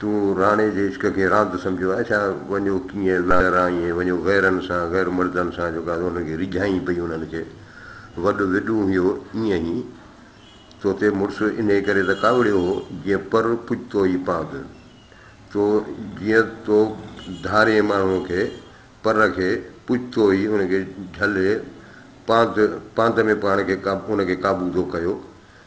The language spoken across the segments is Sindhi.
تون راڻي جي عشق کي راند سمجهيو آهي ڇا؟ وڃو ڪيئن لارائين ۽ وڃو غيرن سان، غير مردن سان جيڪو آهي انهن کي ريجهائين پئي انهن کي وڏ وڏون هيو ايئن هي تو تي مڙس انهي ڪري ته ڪاوڙيو هو جيئن پر پڄ تو ئي پاند تو جيئن تو ڌارين ماڻهوء کي پر کي پڄ تو ئي ان کي جهلي پاند پاند ۾ پاڻ کي ان کي قابو تو ڪيو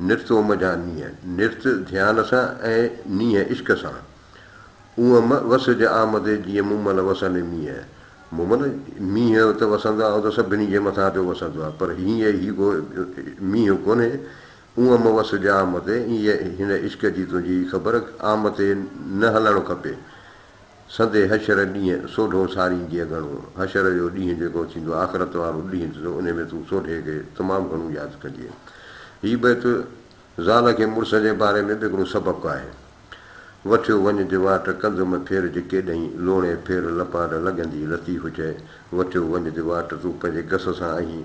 نرت اوم جا نينهن، نرت ڌيان سان ۽ نينهن عشق سان. اوم وس جي آمدي جيئن مومل وسن مينهن. مومل، مينهن ته وسندو آهي، اهو ته سڀني جي مٿان پيو وسندو آهي، پر هيء هي ڪو مينهن ڪونهي. اوم وس جي آمدي، ايئن هن عشق جي تنهنجي خبر، آمتي نه هلڻ کپي. سندي حشر ڏينهن سوڍو ساريندينء گهڻو. حشر جو ڏينهن جيڪو ٿيندو آخرت وارو ڏينهن ٿيندو انهي ۾ تون سوڍي کي تمام گهڻو ياد ڪجي. هي بيت زال کي مڙس جي باري ۾ به هڪڙو سبق آهي. وٺيو وڃ جي واٽ ڪنڌم ڦير جي ڪيڏهين لوڻي ڦير لپانڊ لڳندي لطيف چئي وٺيو وڃ جي واٽ تون پنهنجي گس سان آهين.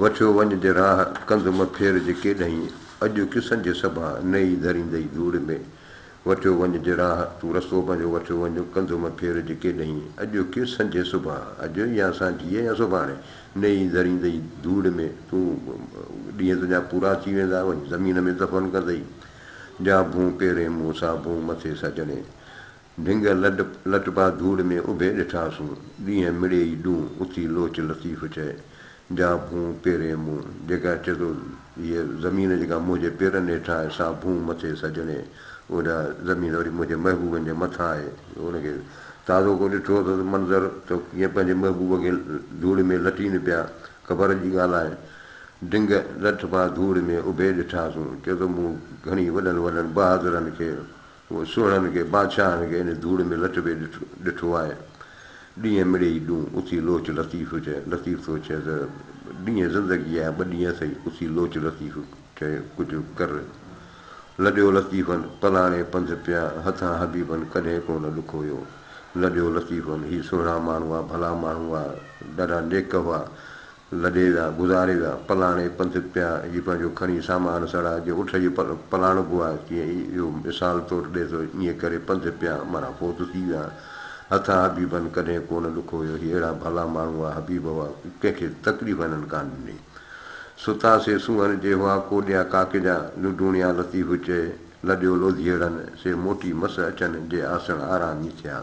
وٺيو وڃ جي راهه ڪنڌ م ڦير جي ڪيڏهين اڄ قصن جي سڀا نئي ڌريندئي ڌوڙ ۾ وٺيو وڃ جي راهه تون رستو پنهنجو وٺيو وڃ ڪنڌ م ڦير جي ڪيڏهين اڄ قصن جي سڀا اڄ يا سانجهيء يا سڀاڻي نئي ڌريندئي ڌوڙ ۾ تون ڏينهن تنهنجا پورا ٿي ويندا وڃ زمين ۾ دفن ڪندئي جا ڀون پيرين مون سان ڀون مٿي سجڻي ڀنگ لڏ لٽبا ڌوڙ ۾ اڀي ڏٺاسون، ڏينهن مڙي ئي ڏون، اٿي لوچ لطيف چئي، جا ڀونء پيرين مون، جيڪا چئي ٿو هيء زمين جيڪا منهنجي پيرن هيٺان آهي، سا ڀونء مٿي سڄڻي، اوڏا زمين وري منهنجي محبوبن جي مٿان آهي، ان کي تازو ڪو ڏٺو اٿس منظر ته ڪيئن پنهنجي محبوب کي ڌوڙ ۾ لٽين پيا، خبر جي ڳالهه آهي، ڊنگ لٺبا ڌوڙ ۾ اڀي ڏٺاسون، چئي ٿو مون گهڻي وڏن وڏن بهادرن کي هو سوڙهن کي بادشاهن کي ان ڌوڙ ۾ لٽبي ڏٺو آهي. ڏينهن مڙئي ڏون اٿي لوچ لطيف چئي، لطيف ٿو چئي ته ڏينهن زندگي آهي ٻه ڏينهن اٿئي، اٿي لوچ لطيف چئي ڪجهه ڪر. لڏيو لطيفن پلاڻي پنڌ پيا هٿان حبيبن ڪڏهن ڪو نه ڏک هيو. لڏيو لطيفن هي سوڙها ماڻهو هئا، ڀلا ماڻهو هئا، ڏاڍا نيڪ هئا. لڏي ذا، گذاري ذا، پلاڻي پنڌ پيا جي پنهنجو کڻي سامان سڙا، جيئن اٺ جي پل پلاڻبو آهي، تيئن ئي اهو مثال طور ڏئي ٿو، ائين ڪري پنڌ پيا معنيٰ فوت ٿي ويا. هٿان حبيبن ڪڏهن ڪونه ڏک هيو، هي اهڙا ڀلا ماڻهو هئا، حبيب هئا، ڪنهن کي تڪليف هنن ڪانه ڏني. ستا سي سونهن جي هئا، ڪوڏيا ڪاڪجا، لڊوڻيا لطيف چئي، لڏيو لوڌيئڙن، سي موٽي مس اچن، جي آسڻ آرامي ٿيا.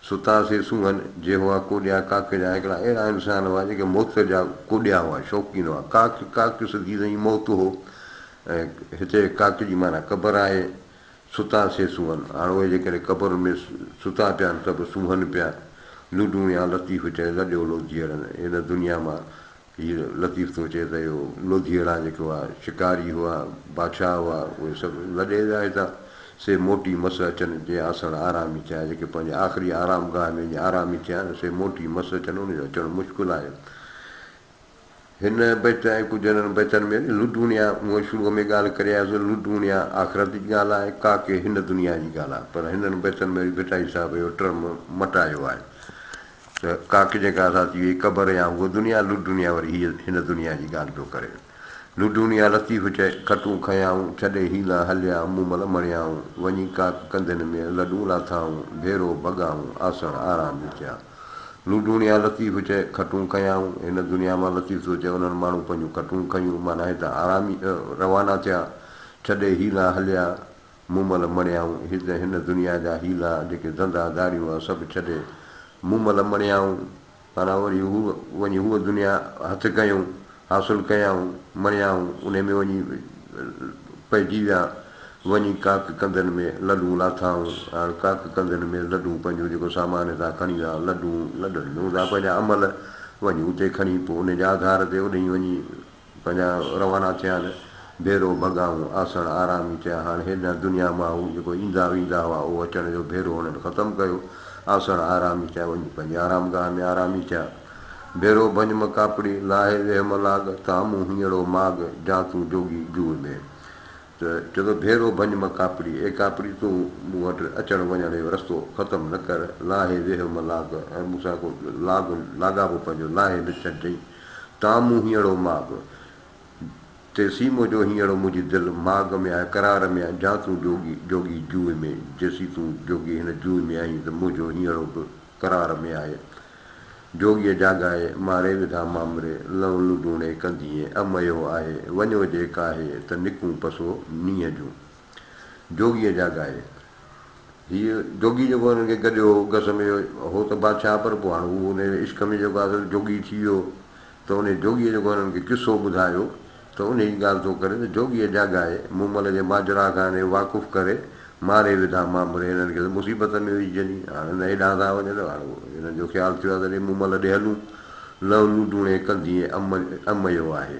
ستا سي سونهن جي هئا ڪوڏيا ڪاڪي جا هڪڙا اهڙا انسان هئا جيڪي موت جا ڪوڏيا هئا شوقين هئا ڪاڪ ڪاڪ سڌي سئي موت هو ۽ هتي ڪاڪ جي معنيٰ قبر آهي ستا سي سونهن هاڻ اهي جيڪڏهن قبرن ۾ ستا پيا آهن ته به سونهن پيا لڊون يا لطيف چئي لڏيولو ڌيئرن هن دنيا مان هي لطيف ٿو چئي ته اهو لوڌيئڙا جيڪو آ شڪاري هئا بادشاهه هئا اهي سڀ لڏي ويا هتان سي موٽي مس اچن جي آسڻ آرامي ٿيا جيڪي پنهنجي آخري آرام گاهه ۾ وڃي آرامي ٿيا آهن سي موٽي مس اچن ان جو اچڻ مشڪل آهي هن بيت ۽ ڪجهه انهن بيتن ۾ به لڊوڻيا مون شروع ۾ ڳالهه ڪري آيو سو لڊوڻيا آخرت جي ڳالهه آهي ڪاڪي هن دنيا جي ڳالهه آهي پر هنن بيتن ۾ ڀٽائي صاحب اهو ٽرم مٽايو آهي ته ڪاڪ جيڪا سا ٿي وئي قبر يا هوء دنيا لڏ ڊونيا وري هيء هن دنيا جي ڳالهه پيو ڪري لڏ ڊونيا لطيف چئي کٽون کنيائون ڇڏي هيلا هليا مون مل مڻيائون وڃي ڪاڪ ڪنڌين ۾ لڏون لاٿائون ڀيرو ڀڳائون آسڻ آرام جو ٿيا لڏ ڊونيا لطيف چئي کٽون کنيائون هن دنيا مان لطيف ٿو چئي انهن ماڻهن پنهنجون کٽون کنيون معنيٰ هتان آرامي روانا ٿيا ڇڏي هيلا هليا مون مل مڻيائون هت هن دنيا جا حيلا جيڪي ڌنڌا ڌاڙيون آ سڀ ڇڏي مون مل مڻيائون معنيٰ وري هو وڃي هوء دنيا هٿ ڪيون حاصل ڪيائون مڻيائون انهي ۾ وڃي پئجي ويا وڃي ڪاڪ ڪنڌن ۾ لڏون لاٿائون هاڻ ڪاڪ ڪنڌن ۾ لڏون پنهنجو جيڪو سامان هتان کڻي ويا لڏون لڏن ۾ هوندا پنهنجا امل وڃي اتي کڻي پوء انهي جي آڌار تي اوڏهين وڃي پنهنجا روانا ٿيا نه ڀيرو ڀڳائون آسڻ آرامي ٿيا هاڻ هيڏانهن دنيا مان هو جيڪو ايندا ويندا هئا اهو اچڻ جو ڀيرو هنن ختم ڪيو آسڻ آرامي ٿيا وڃي پنهنجي آرام گاهه ۾ آرامي ٿيا ڀيرو ڀڃم ڪاپڙي لاهي ويهم لاڳ تان مون هينئڙو ماڳ جان تون جوڳي جوء ۾ ته چئي ٿو ڀيرو ڀڃم ڪاپڙي اي ڪاپڙي تون مون وٽ اچڻ وڃڻ جو رستو ختم نه ڪر لاهي ويهم لاڳ ۽ مون سان ڪو لاڳ لاڳاپو پنهنجو لاهي نه ڇڏجئين تان مون هينئڙو ماڳ، تي سيمو جو هينئڙو منهنجي دل ماڳ ۾ آهي قرار ۾ آهي جان تون جوڳي، جوڳي جوء ۾، جيسين تون جوڳي هن جوء ۾ آهين ته منهنجو هينئڙو به قرار ۾ آهي جوڳيء جاڳائي ماري وڌا مامري لئون لڏوڻي ڪندينء اميو آهي وڃو جي ڪاهي ته نڪون پسو نينهن جون. جوڳيء جا ڳائي. هيء جوڳي جيڪو هنن کي گڏيو هو، گس ۾ هو ته بادشاهه پر پوء هاڻ هو انهيء عشق ۾ جيڪو آصل جوڳي ٿي ويو ته انهيء جوڳيء جيڪو هنن کي قصو ٻڌايو ته انهيء جي ڳالهه ٿو ڪري ته جوڳيء جا ڳائي، مون مل جي ماجرا کان انهيء واقف ڪري، ماري وڌا مامري هنن کي ته مصيبت ۾ وجهجن ئي، هاڻ هن هيڏانهن ٿا وڃن، هاڻ هنن جو خيال ٿيو آهي ته ڏي مون مل ڏي هلون، لهلون ڊوڻي ڪندينء اميو آهي.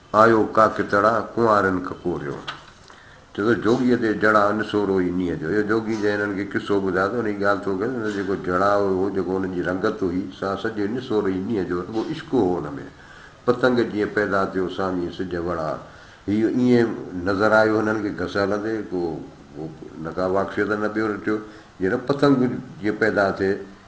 آيو ڪاڪتڙا ڪنوارين ڪڪوريو. چئو ته جوڳيء تي جڙاء نسورو ئي نينهن جو. اهو جوڳي جنهن هنن کي قصو ٻڌايو ته انهيء ڳالهه ٿو ڪيس ته هن جو جيڪو جڙاء هو، جيڪو هن جي رنگت هئي، سا سڄي نسور ئي نينهن جو رڳو عشق هو ان ۾. پتنگ جيئن پيدا ٿيو سامهين سج وڙها. هيء ائين نظر آيو هنن کي گس هلندي، ڪو نه ڪا واڪسيت نه ٻيو رٺيو. جيئن پتنگ جيئن پيدا ٿئي،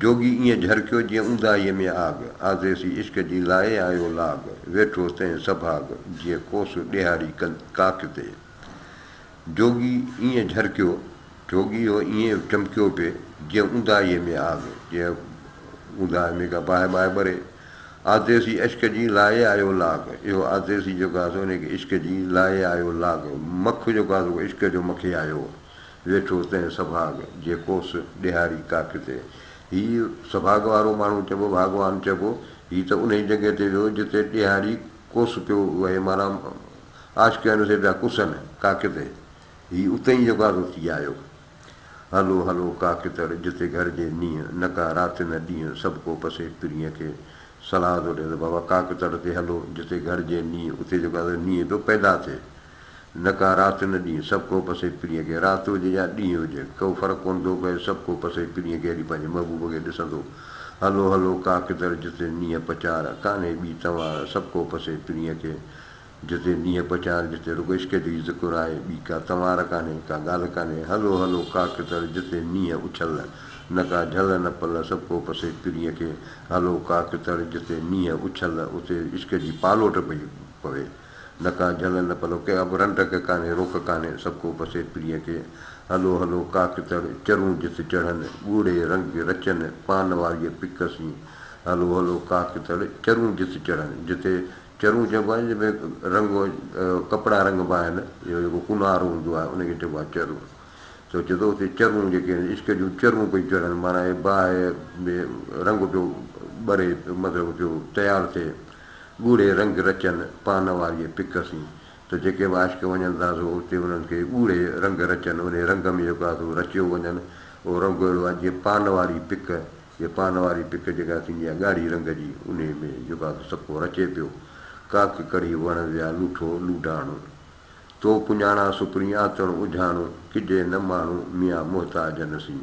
جوڳي ائين جهرڪيو جيئن اونداهيء ۾ آڳ، آزيسي عشق جي لائي آيو لاڳ، ويٺو تنهن سڀاڳ، جيئن ڪوس ڏيهاڙي ڪن ڪاڪ تي. جوڳي ائين جهرڪيو، جوڳي هو ائين چمڪيو پئي، جيئن اونداهيء ۾ آڳ، جيئن اونداهيء ۾ ڪا باهه ٻاهه ٻري. آزيسي عشق جي لائي آيو لاڳ، اهو آزيسي جيڪو آهي سو انهيء کي عشق جي لائي آيو لاڳ، مک جيڪو آهي سو عشق جو مکي آيو. ويٺو تنهن سڀاڳ، جيڪوس ڏيهاري ڪاٺ تي. هي سڀاڳ وارو ماڻهو چئبو، ڀاڳوان چئبو. هي ته انهيء جڳهه تي ويو، جتي ڏيهاري ڪوس پيو وهي، معنيٰ عاشق هن سين پيا ڪسن، ڪاٺ تي. هي اتي ئي يڪازو ٿي آيو. هلو هلو ڪاڪتر، جتي گهرجي نينهن، نه ڪا رات نه ڏينهن، سڀ ڪو پسي پرينء کي. صلاح ٿو ڏيان ته بابا ڪاڪتر تي هلو، جتي گهرجي نينهن، اتي يڪازو نينهن پيو پيدا ٿئي. نه ڪا رات نه ڏينهن سڀ ڪو پسي پرينء کي رات هجي يا ڏينهن هجي ڪو فرق ڪونه ٿو پئي سڀ ڪو پسي پرينء کي اڄ پنهنجي محبوب کي ڏسندو هلو هلو ڪا ڪدر جتي نينهن پچار ڪانهي ٻي تنوار سڀ ڪو پسي پرينء کي جتي نينهن پچار جتي رڳو عشق جو ئي ذڪر آهي ٻي ڪا تنوار ڪانهي ڪا ڳالهه ڪانهي هلو هلو ڪا ڪدر جتي نينهن اڇل نه ڪا جهل نه پل سڀ ڪو پسي پرينء کي هلو ڪا ڪدر جتي نينهن اڇل اتي عشق جي پالوٽ پئي پوي. نه ڪا جهل نه پلو ڪنهن ابرهن ٽڪ ڪانهي روڪ ڪانهي سڀ ڪو پسي پرينء کي هلو هلو ڪاڪتڙ چرون جت چڙهن ڳوڙهي رنگ رچن پان واريء پڪ سين هلو هلو ڪاڪتڙ چرون جت چڙهن جتي چرون چئبو آهي جنهن ۾ رنگ ڪپڙا رنگبا آهن يا جيڪو ڪونهارو هوندو آهي ان کي چئبو آهي چرون تو چئي ٿو اتي چرون جيڪي آهن عشق جون چرون پيون چڙهن معنيٰ باهه ۾ رنگ پيو ٻري مطلب پيو تيار ٿئي. ڳوڙهي رنگ رچن پان واريء پڪ سين ته جيڪي به عاشق وڃن ٿا سو اتي انهن کي ڳوڙهي رنگ رچن انهي رنگ ۾ جيڪو آهي سو رچيو وڃن اهو رنگ اهڙو آهي جيئن پان واري پڪ جي پان واري پڪ جيڪا ٿيندي آهي ڳاڙهي رنگ جي انهي ۾ جيڪو آهي سو سڪو رچي پيو ڪاڪ ڪڙهي وڻ ويا لوٺو لوڍاڻو تو پڃاڻان سپرين آتڻ اجهاڻو ڪجي نه ماڻهو ميان محتاجن سين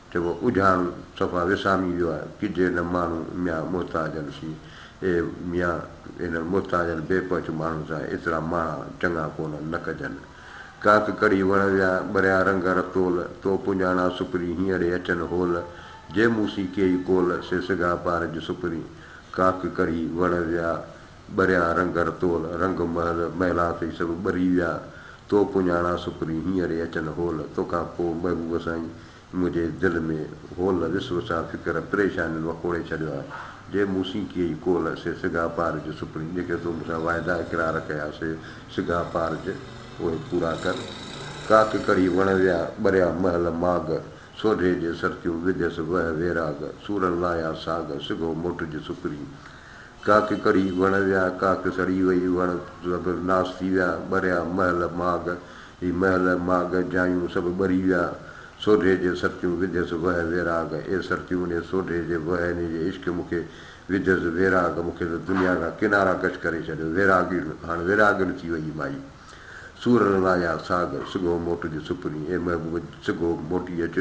چئبو آ اجهاڻ صفا وسامي ويو آ، ڪجهي نه ماڻهو ميان محتاجن سين، اي ميان! انهن محتاجن بي پهچ ماڻهن سان ايترا ماڻها چڱا ڪونهن، نه ڪجن. ڪاڪ ڪڙهي وڻ ويا، ٻريا رنگ ر تول، تو پنجاڻا سپرين هينئڙي اچن هول، جي مون سين ڪيئي ڪول، سي سگها پار جي سپرين. ڪاڪ ڪڙهي وڻ ويا، ٻريان رنگ رتول، رنگ محل، محلا ٿئي سڀ ٻري ويا، تو پڃاڻان سپري هينئر ئي اچن هول، توکان پوء محبوب سائين منهنجي دل ۾ هول، وس وسان فڪر پريشانين وڪوڙي ڇڏيو آهي، جي مون سين ڪيئي ڪول، سي سگها پارج سپري، جيڪي تو مون سان واعدا اقرار ڪيا، سي سگها پارج اهي پورا ڪر، ڪاڪ ڪڙهي وڻ ويا، ٻريان محل ماڳ، سوڍي جي سرتيون وڌيس وهه ويراڳ، سورن لاهيا ساڳ، سگهو موٽج سپري، ڪاڪ ڪڙي وڻ ويا، ڪاڪ سڙي وئي، وڻ سڀ ناس ٿي ويا، ٻريا محل ماڳ، هي محل ماڳ، جايون سڀ ٻري ويا، سوڍي جي سرتيون وڌيس وهه ويراڳ، اي سرتيون اي سوڍي جي وهه ني جي عشق مون کي وڌيس ويراڳ، مون کي ته دنيا کان ڪنارا ڪش ڪري ڇڏيو، ويراڳڙ هاڻ ويراڳڙ ٿي وئي مائي، سورن رايا ساڳ، سگهو موٽج سپرين، اي محبوب سگهو موٽي اچ،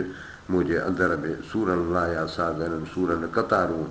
منهنجي اندر ۾ سورن رايا ساڳ، انهن سورن قطارون.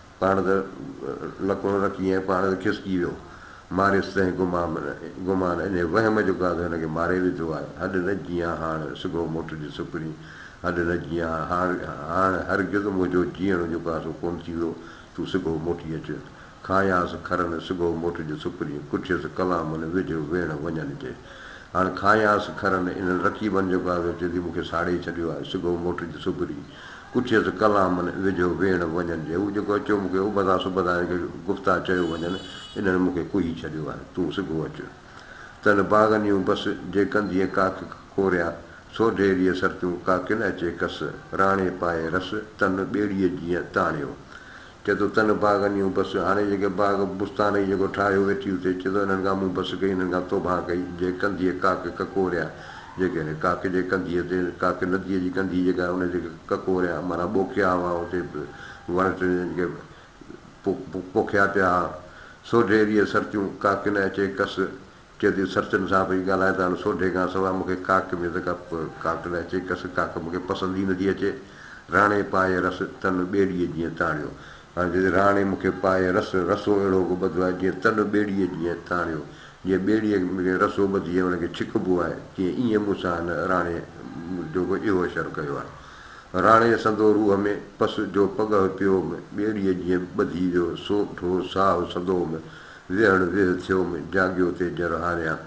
پاڻ ته لڪون رکي ۽ پاڻ ته کسڪي ويو. ماريس تنهن گمان انهي وهم جو گاد هن کي ماري وڌو آهي. هڏ نه جيان هاڻ سگهو موٽجي سپرين. هڏ نه جيان هاڻ هرگز منهنجو جيئڻ جو ڪاسو ڪونه ٿيندو. تون سگهو موٽي اچ. کانئس کرن سگهو موٽجي سپرين. ڪٺيس ڪلامن وجهه ويڻ وڃن جي. هاڻ کانئس کرن انهن رقيبن جو گاد اچي ٿي مون کي ساڙي ڇڏيو آهي. سگهو موٽجي سپرين. پڇيس ڪلامن ويجهو ويڻ وڃن جي هو جيڪو اچيو مون کي ابدا سبدا هن کي گفتا چيو وڃن انهن مون کي ڪوهي ڇڏيو آهي تون سگهو اچ تن باغن يون بس جي ڪندينء ڪاڪ ڪوريا سوڍي ريء سرتيون ڪاڪن اچي ڪس راڻي پائي رس تن ٻيڙيء جيئن تاڻيو چئه ٿو تن باغ انيون بس، هاڻي جيڪي باغ بستان هي جيڪو ٺاهيو ويٺي اتي، چئه ٿو انهن کان مون بس ڪئي، انهن کان توبهان ڪئي، جي ڪنڌيء ڪاڪ ڪڪوريا، جيڪي هن ڪاڪ جي ڪنڌيء تي، ڪاڪ نديء جي ڪنڌي جيڪا آهي ان تي ڪڪوريا معنيٰ ٻوکيا هئا، اتي وڻ ٽڻ جن کي پوکيا پيا ها، سو ڍيريء سرتيون ڪاڪ نه اچي ڪس، جدي سرچن صاحب هي ڳالهائي ته هاڻ سوڍي کان سواء مون کي ڪاڪ ۾ ته ڪا ڪاڪ نه اچي ڪس ڪاڪ مون کي پسند ئي نٿي اچي. راڻي پائي رس تن ٻيڙيء جيئن تاڻيو. هاڻ جدي راڻي مون کي پائي رس رسو اهڙو ڪو ٻڌو آهي جيئن تن ٻيڙيء جيئن تاڻيو. جيئن ٻيڙيء کي رسو ٻڌي ۽ ان کي ڇڪبو آهي تيئن ايئن مون سان هن راڻي جو به اهو شر ڪيو آهي. راڻي سندو روح ۾ پس جو پڳهه پيو هوم ٻيڙيء جيئن ٻڌي ويو سو ڍو ساهه سندو هوم. ويهڻ ويهه ٿيوم، جاڳيو تي جر هاريان.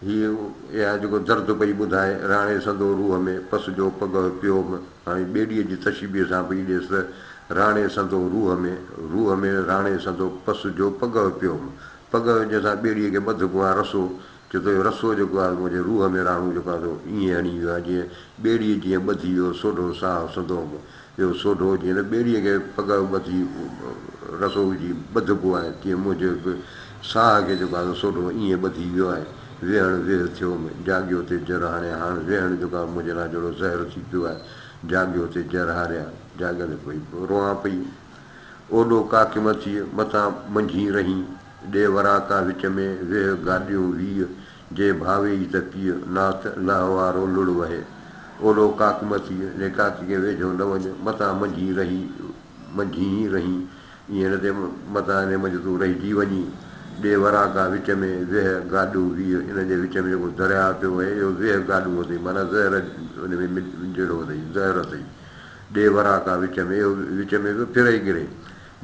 هيء اها جيڪو درد پئي ٻڌائي، راڻي سندو روح ۾ پس جو پڳهه پيوم. هاڻي ٻيڙيء جي تشبيهه سان پئي ڏيس ته، راڻي سندو روح ۾، روح ۾، راڻي سندو پس جو پڳهه پيوم. پڳهه جنهن سان ٻيڙيء کي ٻڌبو آهي، رسو، چيو ته اهو رسو جيڪو آهي سو منهنجي روح ۾ راڻو جيڪو آهي سو ائين هڻي ويو آهي جيئن ٻيڙيء جيئن ٻڌي ويو سوڍو ساهه سندو به اهو سوڍو جيئن نه ٻيڙيء کي پڳ ٻڌي رسو وجهي ٻڌبو آهي تيئن منهنجي به ساهه کي جيڪو آهي سو سوڍو ائين ٻڌي ويو آهي ويهڻ ويهه ٿيو م جاڳيو تي جر هاڻي هاڻ ويهڻ جيڪو آهي منهنجي لاء جهڙو زهر ٿي پيو آهي جاڳيو تي جر هاريان جاڳندي پئي روئان پئي اوڏو ڪاڪي مٿيء متان منجهين رهين. ڏي وراتا وچ ۾ ويهه گاڏيون ويهه جي ڀاوي ئي ته پيء ناٿ لئه وارو لڙ وهي اولو ڪاڪ مٿيء لي ڪاڪي کي ويجهو نه وڃ متان منجهين رهي منجهين رهين ائين نه ته متان انهي منجهه تون رهجي وڃين ڏي وراتا وچ ۾ ويهه گاڏيون ويهه ان جي وچ ۾ جيڪو درياهه پيو وهي اهو ويهه گاڏيون اٿئي معنيٰ زهر ان ۾ مل جهڙو اٿئي زهر اٿئي ڏي وراتا وچ ۾ اهو وچ ۾ پيو ڦري گري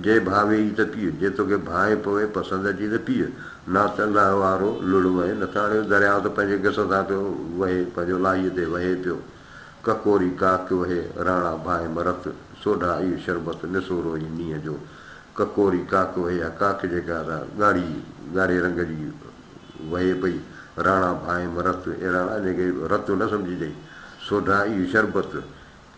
جي ڀاء ويئي ته پيء، جي توکي ڀانء پوي پسند اچي ته پيء، نه ته الله وارو لڙ وهي، نه ته اڻيو درياء ته پنهنجي گس سان پيو وهي، پنهنجو لاهيء تي وهي پيو. ڪڪوري ڪاڪ وهي، راڻا ڀانء مرت، سوڍا اهي شربت، نسورو اهي نينهن جو. ڪڪوري ڪاڪ وهي، اها ڪاڪ جيڪا سا ڳاڙهي، ڳاڙهي رنگ جي وهي پئي، راڻا ڀانء مرت، اي راڻا انهيء کي رت نه سمجهجئي، سوڍا اهي شربت،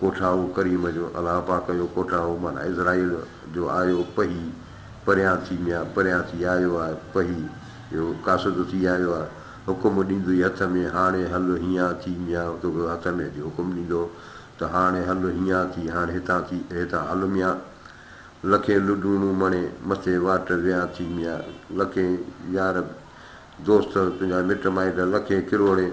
ڪوٺائون ڪريم جو الله پاڪ جو ڪوٺائون معنيٰ عزرائيل جو آيو پهي پريان ٿي ميان پريان ٿي آيو آ پهي جو قاصد ٿي آيو آ حڪم ڏيندوئي هٿ ۾ هاڻي هل هينئان ٿي ميان توکي هٿ ۾ اچي حڪم ڏيندو ته هاڻي هل هينئان ٿي هاڻي هتان ٿي هتان هل ميان لکين لڊوڻون مڻي مٿي واٽ ويان ٿي ميان لکين يار دوست تنهنجا مٽ مائٽ لکين ڪروڙين